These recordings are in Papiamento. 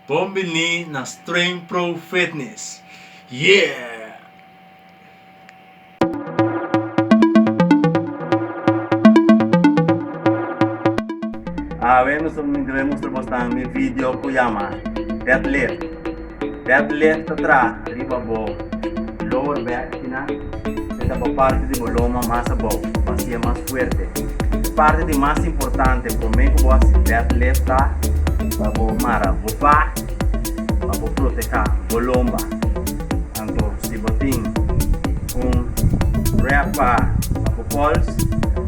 Bon bini na Streng Pro Fitness yeah! Awe mi so mi debe mustra bos nan mi video ku yama deadlift. Deadlift ta traha riba bo lower back kinan. E ta bo parti di bo loma mas abou pa haci'e mas fuerte. Parti di mas importante prome cu bo haci bed lef ta pa bo mara bo pa pa bo proteha bo lomba. Anto si bo tin un wrap pa pa bo pols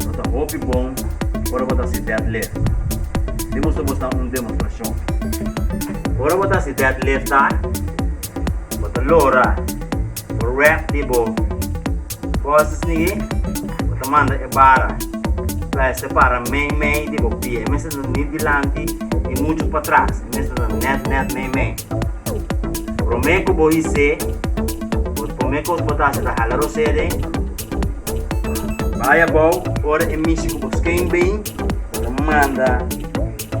lo ta hopi bon ora bo ta haci bed lef. Tin boso bo ta un demostracion. Ora bo ta haci bed lef ta bo ta lora. Rap di bo cosas nigui bo ta manda e bara fly separa mei mei di bo pie e mester ta ni dilanti ni mucho patras e mester ta net net mei mei prome cu bo ise bo prome cos bo ta haci ta hala rosé den bay abao ora e mishi cu bo sken been bo ta manda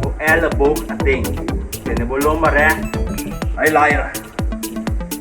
bo elleboog aden tene bo lomba recht bay laira.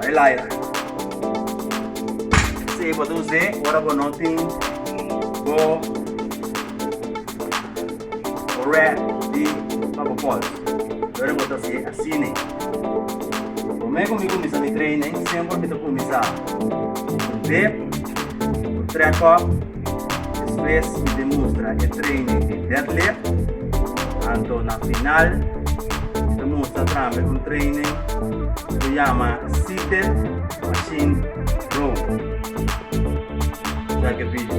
Ai laia. Sey bo ta usé ora bo no tin bo red di pa bo pols. Pero bo ta sigue asine. Bo me con mi comienza mi training, siempre mi ta comienza con dip, con track up. Despues mi bin mustra e training di deadlift, anto na final mi ta mustra tambe un training cu ta yama seated machine row. Check e video.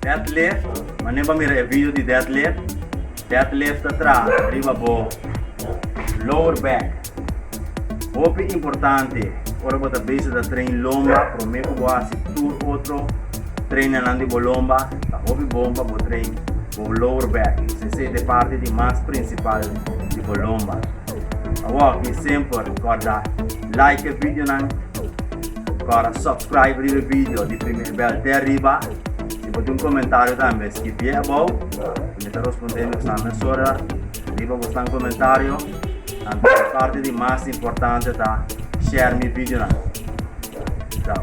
Deadlift, Manen pa mira e video di deadlift. Deadlift ta traha riba bo lower back. Hopi importante ora bo ta bezig ta train lomba, prome ku bo hasi tur otro trainanan di bo lomba, ta hopi bon pa bo train bo lower back, sese ta e parti di mas prinsipal di bo lomba. Awor, mi semper korda. Like e video nan, kòrda subscribe riba e video di primer bèl te ariba. Si bo tin un komentario tambe skipié abou, ku mi ta respondé mi kusnan mesora riba bosan komentario. Tambe e parti di mas importante ta share mi video nan. Chao.